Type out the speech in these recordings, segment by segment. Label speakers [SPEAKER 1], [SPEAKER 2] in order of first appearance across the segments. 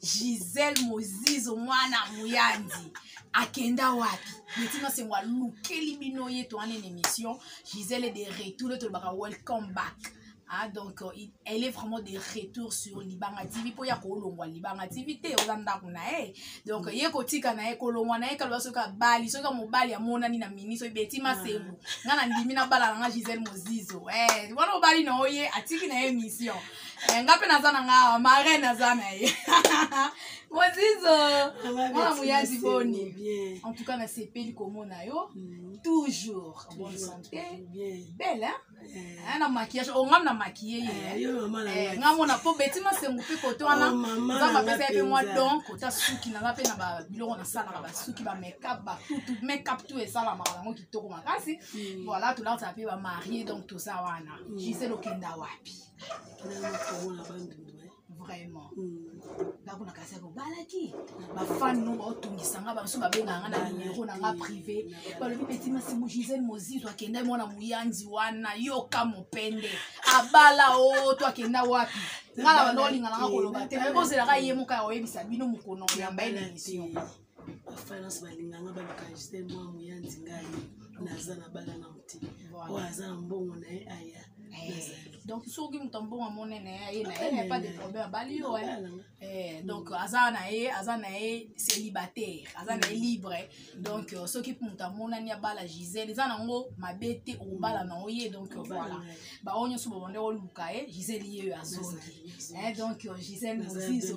[SPEAKER 1] gisele mozizo mwana moyandi akenda wapi betina sengo alukeli bino ye to wana na émission gisele de retour le tolobaka welcome back Ah, donc euh, il, elle est vraiment de retour sur libanga tv mpo ya kolongwa libanga tv te oza ndako na ye donc ye kotika na ye kolongwa na ye kaloba soki abali soki mobali amonani na mini soki beti masengo ngai nandimi nabala na ngai gisele mozizo eh, wana obali na oye atiki na ye émission Eh, nga mpe naza na nga awa mare naza na ye mozizo mwana moyadi boni en tout cas nasepeli komona yo mm. toujours en bonne santé belle eh. eh, na maquillage ongam oh, na maquille ye nga mona mpo beti masengu mpe kote oh, wana nzambe apesa ye mpe mwa don kota suki naza mpe na babiloko nasalaka basuki bamekap batutu mekap tu esalamaka yango kitoko makasi mm. voilà tolautaka mpe bamarie donc toza wana mm. gisele okenda wapi vraiment ndako mm. na kasi kobalaki bafani no baotungisa nga bamosusu babengaka nga na numero na nga privé balobi peti masimu gisele mozizo akenda mwana moyanzi wana yoka mopende abala o oh, to akenda wapi nga na bando olingana nga koloba te me bozelaka ye moka ya koyebisa bino mokono oyamba ye na emission bafinance
[SPEAKER 2] balinganga balokagise mwa moya nzingai naza na bala na moti oyo aza na mbongo na ye aya donc
[SPEAKER 1] soki moto ambongo amonene ye na ye pas de problème abali yo donc aza na ye aza na ye célibataire aza na ye mm. libre donc euh, soki moto amonani abala gisele eza nango mabe te obala mm. na oye donc euh, voilà baoyo nyonso babande oluka ye gisele ye oyo azongi donc euh, gisele mozizo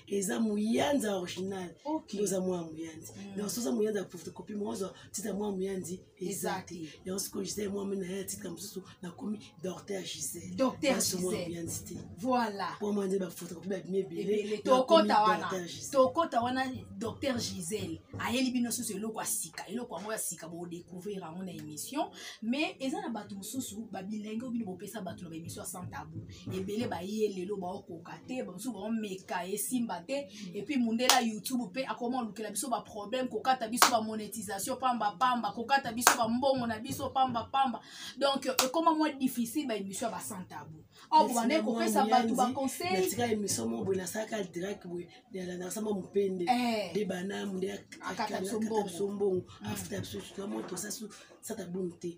[SPEAKER 2] eza muyanza original okay. oza mwa muyanzi mm. donc soza muyanzi ya photocopie moozwa titre mwa muyanzi eza te yango sikoyo gisele mwa mena ya titre mosusu nakomi docteur gisele docteur mwa
[SPEAKER 1] muyanzi te voilà mpo mwa nde bafotocopie
[SPEAKER 2] babimi ebele tokota wana
[SPEAKER 1] tokota wana docteur gisele ayeli bino susu eloko ya sika eloko yango ya sika bodecouvrir yango na émission mais eza na bato mosusu babilenge oyo bino bopesa bato na baémission ya sans tabou ebele baye lelo baokoka te bamosusu baomeka esimba te epuis mundela youtube mpe akoma olukela biso baproblème kokata biso bamonétisation pamba pamba kokata biso bambongo na biso pamba pamba donc ekoma mwa difficile baémission ya basantabu awa bobanda kopesa bato baconseiltika émission mo boye
[SPEAKER 2] nasalaka direct boye nalandakasama mopende eh. de bana mundela akata biso
[SPEAKER 1] mbongo
[SPEAKER 2] afuta biso moto sasa bongo te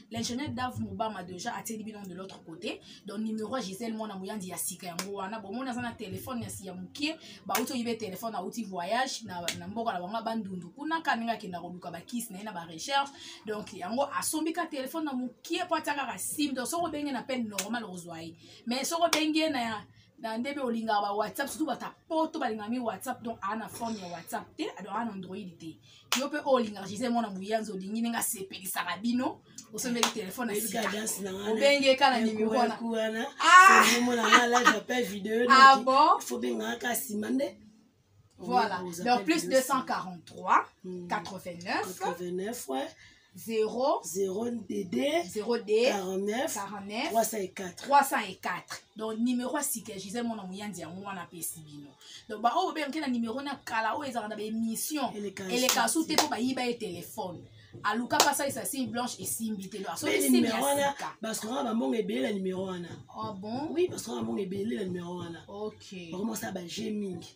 [SPEAKER 1] l'ingénieur dave mobama deja atieli bino de l'autre côté donc numéro ya gisele mwana moyandi ya sika yango wana bomoni aza na telefone ya mokie bauti oyibe telefone auti voyage na, na mboka na bango bandundu kuna ka ndenge akenda koluka bakisi na ye na barecherche donc yango asombi ka telefone na mokie mpo atia kaka sim donc soki obenge na pene normal okozwa ye mais soki obenge ye na na nde mpe olingaka ba whatsapp surtout bata poto balingaka mi whatsapp donc aa na forme ya whatsapp te donc aa na android te yo mpe oyo olingaka gisele mwana moyanzi olingi ndenge asepelisaka bino osombeli telefone obenge ka na nimero wana
[SPEAKER 2] ah! ah bon
[SPEAKER 1] voilà
[SPEAKER 2] donc
[SPEAKER 1] plus 243
[SPEAKER 2] 89 89
[SPEAKER 1] ouais 0 0 DD
[SPEAKER 2] 0 D 49 49 304 304 donc
[SPEAKER 1] numéro ya sika ya gisele mwana moyanzi yango wana apesi bino donc baoyo babengaki na numéro na kala oyo ezalaka na baémission eleka su te mpo bayiba ye telefone aluka mpe asalisa signe blanche esimbi te basokoka
[SPEAKER 2] bambongo ebele na numero wana ah bon oui
[SPEAKER 1] basokoka bambongo ebele
[SPEAKER 2] na numero wana bakomosala
[SPEAKER 1] baje
[SPEAKER 2] mingi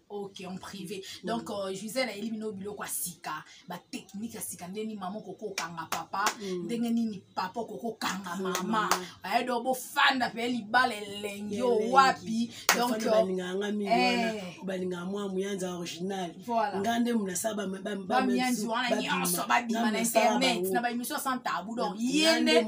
[SPEAKER 2] ok en privé
[SPEAKER 1] mm. donc euh, gisele ayeli bino biloko ya sika batechnike ya sika ndenge nini mama okoki okanga papa mm. ndenge nini papa okoki okanga mm. mama aye do bofanda mpe libala elengi o wapi donkbalingaka
[SPEAKER 2] mwa moyanza original nga nde monasaba bamiyanzi wana nyonso
[SPEAKER 1] babima na internet na baémission sans tabou donc ye nde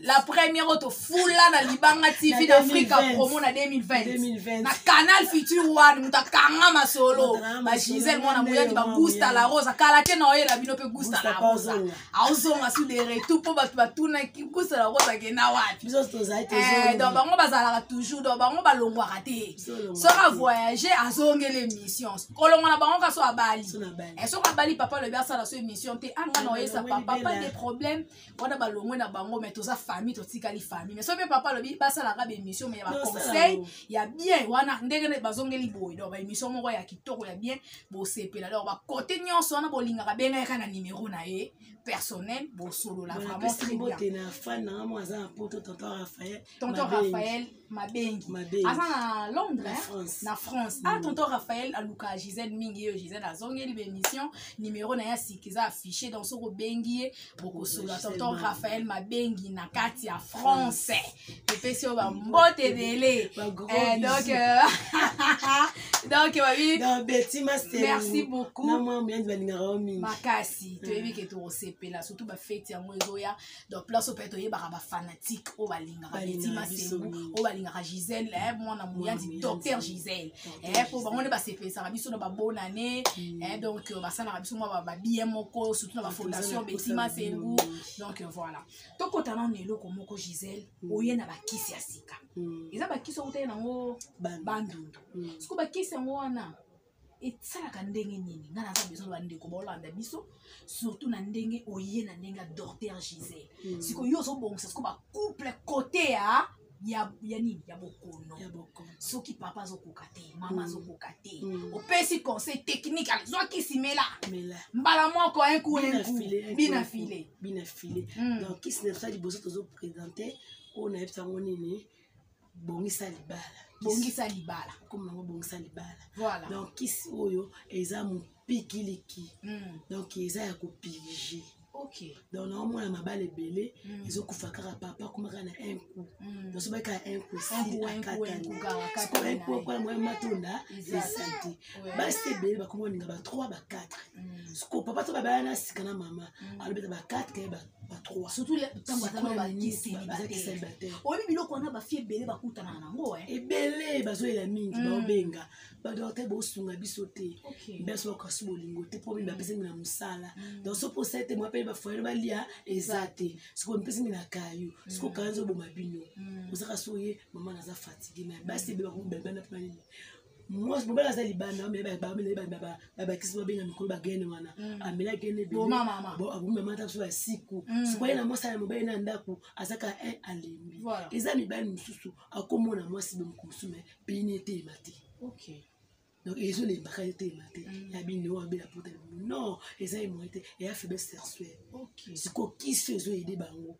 [SPEAKER 1] la première oto fula na libanga tv na afrika promo na 2020 na canal future one moto akanga masolo bagisele mwana moyaki bagusta la rose akala te na oyela bino mpe gusta la rose aozonga su de retour mpo bato batunaki gusta la rose akenda wapi eh, donc bango bazalaka toujours donc bango balongwaka te soki avoyage azongeli émission kolongwa na bango kaso abali eh, soki abali papa lobi asala so émission te anga ah, na oyesa papa pas de problème wana balongwe na bango mais toza famille totikali famille mais soki mpe papa alobi basalaka baémission mais ya baconseil ya bien wana ndenge nde bazongeli boye donc baémission moko ya kitoko ya bien bosepela donc bakote nyonso wana bolingaka bengayaka na nimero na ye personnel bosolola vraiment très bien
[SPEAKER 2] tonton
[SPEAKER 1] raphaël mabengi aza na londres na france a ah, mm. tonton raphael aluka gisele mingi yo gisele azongeli baémission numéro na ye asiki eza affiché donc soki obengi ye bokosola tonton raphael mabengi na kati ya france epesi yo bambote ebele eh, donc euh, donc babimesi beaucoup makasi toyebi ke tokosepela surtout bafeti yango ezoya donc place oyo mpe toyebaka bafanatique oyo balingaka betima sembu oyo balingaka gisele eh, mwana moyandi docteur gisele eh, mpo bango nde basepesaka biso na babonane mm. eh, donc euh, basalaka biso mwa babie moko surtout na bafondation betima sembu donc euh, voilà tokota nano na eloko moko gisele mm. oye na bakisi ya sika mm. eza bakisi okutaki nango bandundu siko bakisi yango wana esalaka ndenge nini ngai naza besoin na bandeko baolanda biso surtout na ndenge oye na ndenge ya docteur gisele mm. sikoyo yo ozobongisa siko bacouple kote ya ya ya nini ya bokono soki papa azokoka te mama mm. azokoka te mm. opesi conseil technique azwa kisi mela mbala moko enku enku bina file bina file donc
[SPEAKER 2] kisi na biso liboso tozopresente oyo nayebisa yango nini bongisa libala bongisa libala komona yango bongisa libala voilà. donc kisi
[SPEAKER 1] oyo
[SPEAKER 2] eza mopikiliki mm. donc eza ya kopilije okay. donc
[SPEAKER 1] naomona
[SPEAKER 2] mabala ebele mm. ezokufa kaka papa koma kaka na un coup mm. donc soba kaka un coup sili akatanisokola un coup akola moya matonda esanti basi ebele bakoma baninga ba 3 ba 4 mm. soko papa to babala na sika na mama mm. alobeta ba 4 kaye ba
[SPEAKER 1] oyebi biloko wana bafi ebele bakutanaka nango eh? ebele bazoyela
[SPEAKER 2] mingi mm. baobenga badokter bosunga biso te biso bakasi bolingo te mpo bini bapesi ngi na mosala mm. donc soki osali te mwapele bafoyele balia eza te soki omipesi ngi na kayo mm. soki okanga ezoboma bino ozaka soki oye mama naza fatigue na basi ebele bakomi balibana mpo na nini mwasi mobali aza libanda babakisi babenga mikolo bagene wana mm. amela gene abomi mama ata biso ya siku mm. sikoyo ye na mwasi ya mobali na ndako azaka e alembi eza mibali mosusu akomona mwasi bomoko mosusu me bini eteyema te
[SPEAKER 1] donc
[SPEAKER 2] ezolembaka ye tema te mm. ya bino oyo abela pota non eza ye moye te eya faiblesse sexuelle sikoyo
[SPEAKER 1] kisi
[SPEAKER 2] ezoyede bango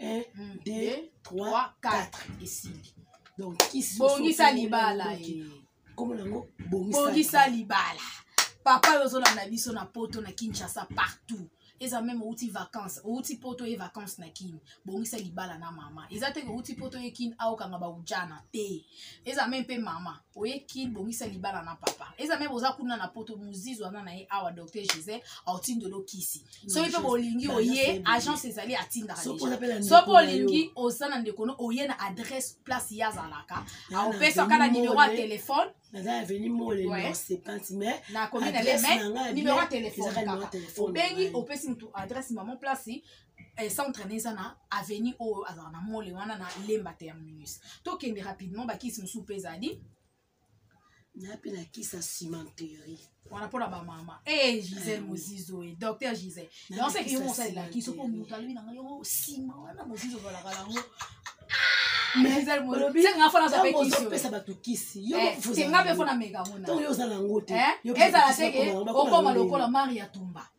[SPEAKER 2] 1 2 3 4 esili donc kisi bongisa libala
[SPEAKER 1] eh. kombo
[SPEAKER 2] nango bongisa
[SPEAKER 1] libala papa oyo ozolanda biso na poto na kinshasa partout eza meme outi vacance outi poto ye vacance na kin bongisa libala na mama eza te outi poto ye kin aokanga baujana te eza meme mpe mama oye kin bongisa libala na papa eza meme oza kuna na poto mozizi wana na ye awa docteur gisele aotindelo kisi soki mpe bolingi oye agence ezali atindaka soki olingi oza na ndeko no oye na adresse place ye azalaka aopesaka na nimero ya telefone naza ya veni
[SPEAKER 2] molenosepante mais nakomi na le mai
[SPEAKER 1] nimero ya telefone obengi opesi motu adresse mamo place eh, centre na eza na avenue oyo azala na mole wana na lemba terminus tokende rapidement bakisi mosusu mpe ezali
[SPEAKER 2] na mpe na kisa cimenterie wana mpo na
[SPEAKER 1] bamama e eh, gisele eh, mozizo e docteur gisele yango seke yo mosalela kiso mpo moto alobi na ngai yo nsima wana mozizo balaka yango opesa bato kisi
[SPEAKER 2] yotenga mpe mpo na meka
[SPEAKER 1] monazala
[SPEAKER 2] te
[SPEAKER 1] okoma lokola mari ya tumba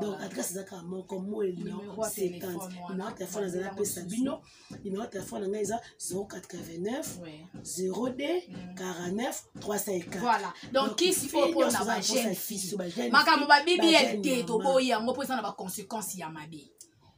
[SPEAKER 2] donc adresse eza kaka moko moeli na 50 numero telefone azali apesa bino numero telefone na ngai eza 089 02 49 304 donc kisi
[SPEAKER 1] oyo mpona bajeune fille makambo babibi ya te toboyi yango mpo eza na baconséquence ya mabe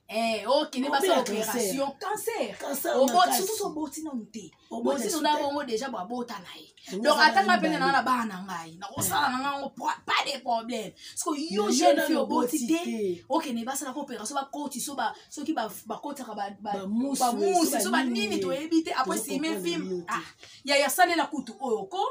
[SPEAKER 1] Eh, okende basi opération cancer obotisusu oboti nanu te botino na bongo déjà babota na ye donc atanga mpe nana na bana na ngai nakosala na ngai yango pas de problème parceke yo jeune fille oboti te okende basalaka opération bakoti so soki bakotaka bamusi so banini toyebi te apres sime film ah, ya yasalela kutu oyo ko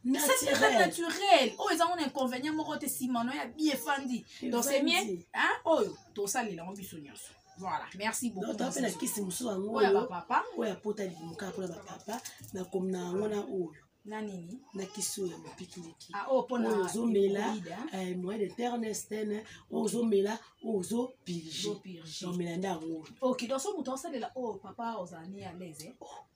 [SPEAKER 1] naturel naturel oyo eza ngona inconvénient moko te nsima no ya bi efandi donc c'est mieux oyo tosalela yango biso nyonso voilà merci beaucoup donc apela kisi mosusu
[SPEAKER 2] yango oyo bapapa oyo apota limuka mpona bapapa na komina yango na oyo na nini
[SPEAKER 1] na kisi oyo ya
[SPEAKER 2] mopikiliki ah, oh, oyo ozomela eh, moyen de ternestene oyo ozomela oyo ozopirge omela nde yango oyo ok donc so moto asalela
[SPEAKER 1] oyo oh, papa ozala ni alaise eh? oh.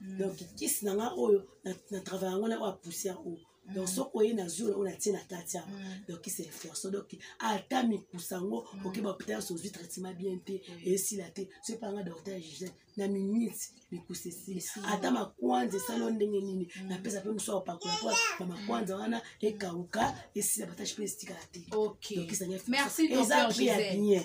[SPEAKER 2] mm. donc kisi na nga oyo na travail yango na oyo apoussière oyo mm. donc soki oye na zwi oyo natie na kati yango mm. donc kisi reflexion donc ata mikusa yango oke bapital nyonso ozwi traitement bien te esila te soki mpa nga docteur gigene na minute mikusa esili ata makwanza esali o ndenge nini napesa mpe mosu akopakola mpo na makwanza wana ekauka esila batache mpe esitikala te donc kisi na nga
[SPEAKER 1] eza prix ya bien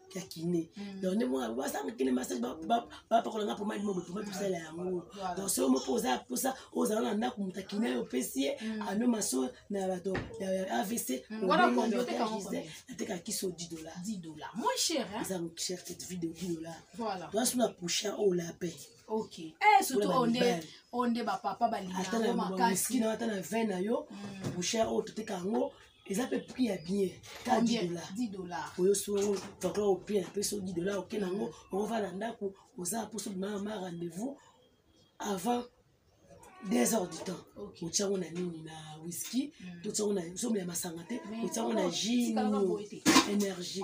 [SPEAKER 2] ya kine mm. donc nde mwa basanga kine massage bapakola nga pomadi mobo pomadi tosala yango donc soki mo mpo oza mposa ozala na ndako moto akine yo opesi ye mm. ano maso na bato ya avc mm.
[SPEAKER 1] nateka
[SPEAKER 2] kiso 10 dollar
[SPEAKER 1] eza cher cette vie de 10
[SPEAKER 2] dollar toasu na
[SPEAKER 1] pusha
[SPEAKER 2] oyo lapin ok eh,
[SPEAKER 1] surtout oyo nde oyo nde bapapa balinga yango makasi ata
[SPEAKER 2] na 20 na yo pusha oyo toteka yango eza mpe prix ya bien ta 10 dollars oyo so toko opie na mpe so 10 dollars oke nango okova na ndako oza mposo bimaka ma rendez-vous avant deux heures du temps otya yango na nini na whisky hmm. totya yango na somo ya masanga te otya yango na jus nini énergie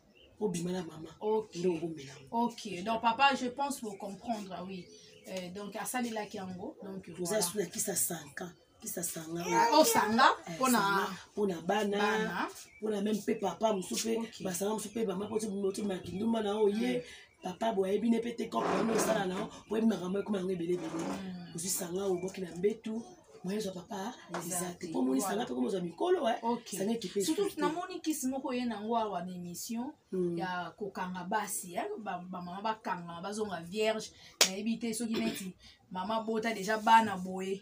[SPEAKER 2] obima na mama okay. nde okomela
[SPEAKER 1] ok donc papa je pense bocomprendre ah oui euh, donc asalelaki yango donc toza voilà. suna kisa
[SPEAKER 2] sanka kisa sanga ah, osanga oh,
[SPEAKER 1] eh, mpona mpona
[SPEAKER 2] bana mpona meme mpe papa mosusu mpe okay. basanga mosusu mpe bama mpototima kindumba na oye mm. papa boye ayebi ne mpe te kopo yango osala na yo boyebi makambo ekoma yango ebele ebele mm. ozwi sanga oboki na mbetu moyen zwa papa eza te mpo omonisa nga mpe komozwa mikolo sange kipe surtout namoni kisi
[SPEAKER 1] moko ye nango awa na émission hmm. ya kokanga basi bamama bakangama bazonga vierge nayebi te soki neti mama bota deja bana boye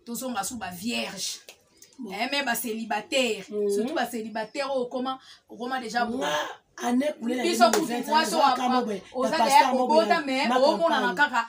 [SPEAKER 1] tozonga su bavierge eh, me bacelibataire hmm. surtout bacelibataire oyo okoma okoma deja biso
[SPEAKER 2] kutu mwasi
[SPEAKER 1] oza deya kobota me omonana kaka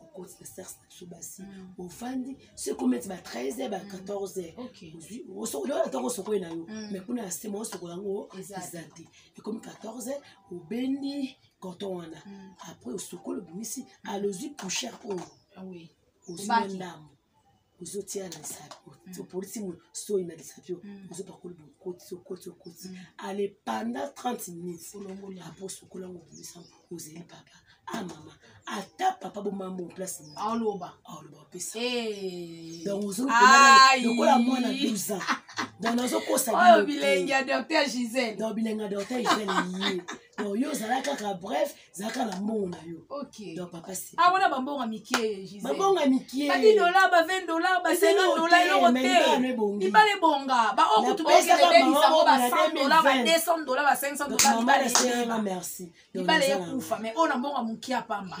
[SPEAKER 2] okoti na sexe na biso basi mm. ofandi soki ometi ba 13 heure ba 14 heure ozwi osokola wana ntango osokoli na yo mm. mais kuna ya sema osokola yango eza te ekomi 14 heure obendi coton wana mm. après osokoli obimisi alozwi pouchère oyo ah
[SPEAKER 1] ozwi
[SPEAKER 2] ndambo ozotia na lisapi mm. opolisi mo soyi na lisapi oyo mm. ozopakoli bokoti okoti okoti mm. ale panda 30 minutes apo osokola yango obimisa ozeli papa a ah, mama ata papa bomambo place aoloba aoloba
[SPEAKER 1] opesa
[SPEAKER 2] eh.
[SPEAKER 1] donc
[SPEAKER 2] ozolokola mwana 12 ans donc nazokosa bilengi ya
[SPEAKER 1] docteur gisele donc bilengi ya docteur
[SPEAKER 2] gisele ye donc yo ozala kaka bref zala kaka na mbongo na yo donc papa
[SPEAKER 1] awana ah,
[SPEAKER 2] bambongo ya mikie
[SPEAKER 1] bambongo ya mikiebadi
[SPEAKER 2] dolar ba 20
[SPEAKER 1] dolar ba 50 dolar eloko te libala ebonga baoyo kutu baokeebisango ba 100 dolar ba 200 dolar ba 500 dolar merci
[SPEAKER 2] libala ekufa
[SPEAKER 1] mais oyo na mbongo ya mokie ya pamba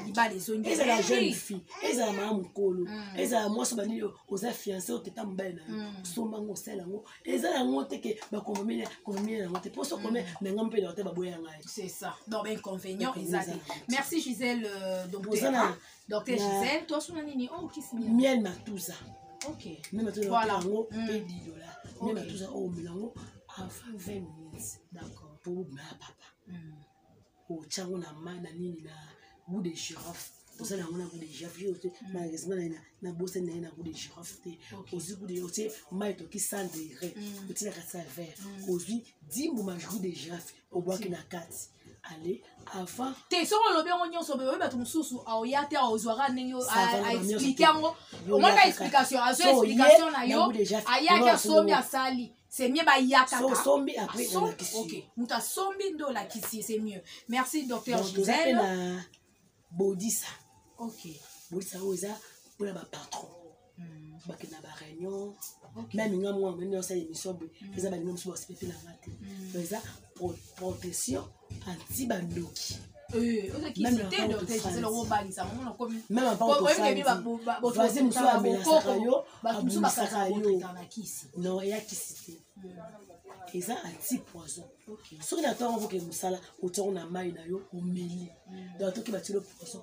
[SPEAKER 1] libala ezongi ezala jeune fille
[SPEAKER 2] ezala mama mokolo hmm. ezala mwasi bandi oza fiance oteta mobali na yo hmm. osomba yango osala yango eza yango te ke bakomameli komameli yango te mposo kome mm. na ngai mpe na te baboya ngai c'est ça donc
[SPEAKER 1] bainconvénient eza te merci gisele euh, docteur hein. docteur gisele tosuna nini o oh, kisi miel matuza
[SPEAKER 2] ok miel
[SPEAKER 1] matuza
[SPEAKER 2] yango mpe mm. didola miel matuza oyo oh, omela yango avant 20 minutes d'accord mpo obima ya papa mm. otya yango na mai na nini na gout de girofle osala yango na gout de girofle yo te malheureusement naye na bosani naye na gout de girofle te ozwi gout de otie mai toki 100 degre mm. otielaka sa vert mm. ozwi dimbuma gout de girofle obwaki na kati ale avant te soki olobi yango
[SPEAKER 1] nyonso oyebi bato mosusu aoya te aozwaka ndenge aexplike yango omonaka explication azwa explication na yo ayaki asombi asali c'est mieux bayaka so sombi après na lakisi
[SPEAKER 2] OK muta sombi
[SPEAKER 1] ndo lakisi c'est mieux merci docteur Gisèle na
[SPEAKER 2] bodisa OK
[SPEAKER 1] bodisa oyo eza
[SPEAKER 2] pour la patron hmm. bakenda ba réunion même nga mwa mene osala émission boye hmm. eza balinga mosusu basipepe na nga te hmm. eza protection anti bandoki voisin mosusu amelasaka yo abumisaka yo non eya kisi te hmm. eza anti poison soki na ntango okoke mosala otiango na mai na yo omeli hmm. donc toki batilo poison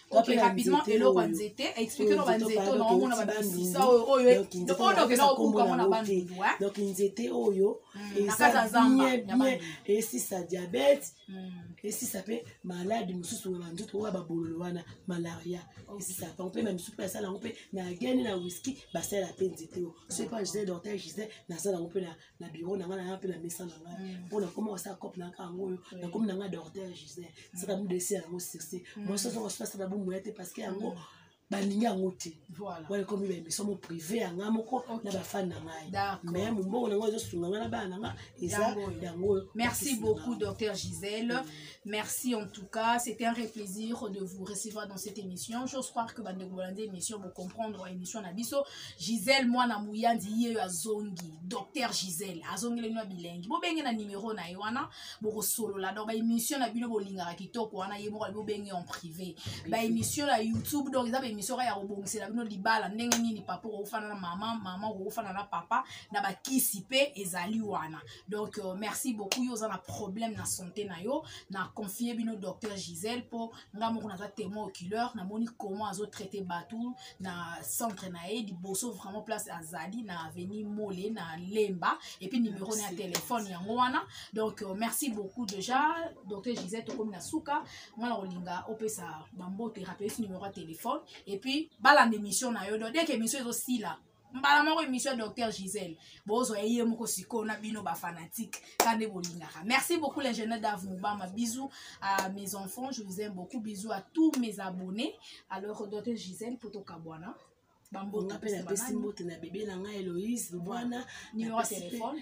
[SPEAKER 1] ok rapidement eloko ya nzete explike no banzete oyo naomona babisisa oyo oyo okenda kobuka ngo na bandundu
[SPEAKER 2] donc nzete oyo esisa diabete esisa mpe maladi mosusu oyo banzoto oyo babololo wana malaria esisa bango mpe na misusu mpe asala yango mpe na gene na wiski basala mpe nzete oyo soki mpe gisele dortel gisele nasala yango mpe na biro na ngai naya mpe na mesa na ngai mm. mpo nakoma kosala cope na ngai yango oyo nakomi na ngai docteur gisele mm. saka midesi yango sirse mm. mwasi ozo kosuka sala bomoya te parce que yango balingi yango te wana ekomi baemission mo privé ya ngai moko na bafani na ngai mais mombongo na ngai ezosunga ngai na bana na ngai eza yango oyo merci beaucoup
[SPEAKER 1] docteur gisele Merci en tout cas, c'était un vrai plaisir de vous recevoir dans cette émission. J'ose croire que bande Bolande émission vous comprendre émission nabiso. Gisèle moi na Mouyandi ye azongi, docteur Gisèle azongi le noix bilingue. Bo benge na numéro na wana, bo solo la donc ba émission na bino bolinga kitoko wana ye moko bo benge en privé. Ba émission na YouTube donc eza ba émission ya obongisa la bino libala ndenge nini papa ko fana na maman, maman ko fana na papa na ba kisi pe ezali wana. donc euh, merci beaucoup yo oza na problème na santé na yo na confie bino docteur gisèle mpo nga moko naza témoin oculaire namoni comment azotraite bato na centre na ye liboso vraiment place azali na avenue mole na lemba epuis numéro na ya telefone yango wana donc euh, merci beaucoup déjà docteur gisèle tokomi na suka nga na kolinga opesa bambote rapelisi numéro ya telefone epuis balanda émission na yo donc deke émission ezosila mbala moko émission ya docteur gisele bozwa ye moko sikoyo na bino bafanatike ka nde bolingaka merci beaucoup l'ingénieur dave mobama bisous à mes enfants je vous aime beaucoup bisous à tous mes abonnés alors docteur gisele mpo tokabwana bambonga mpe napesi mbote
[SPEAKER 2] na bebe na ngai eloïse lubwana numéro ya telefone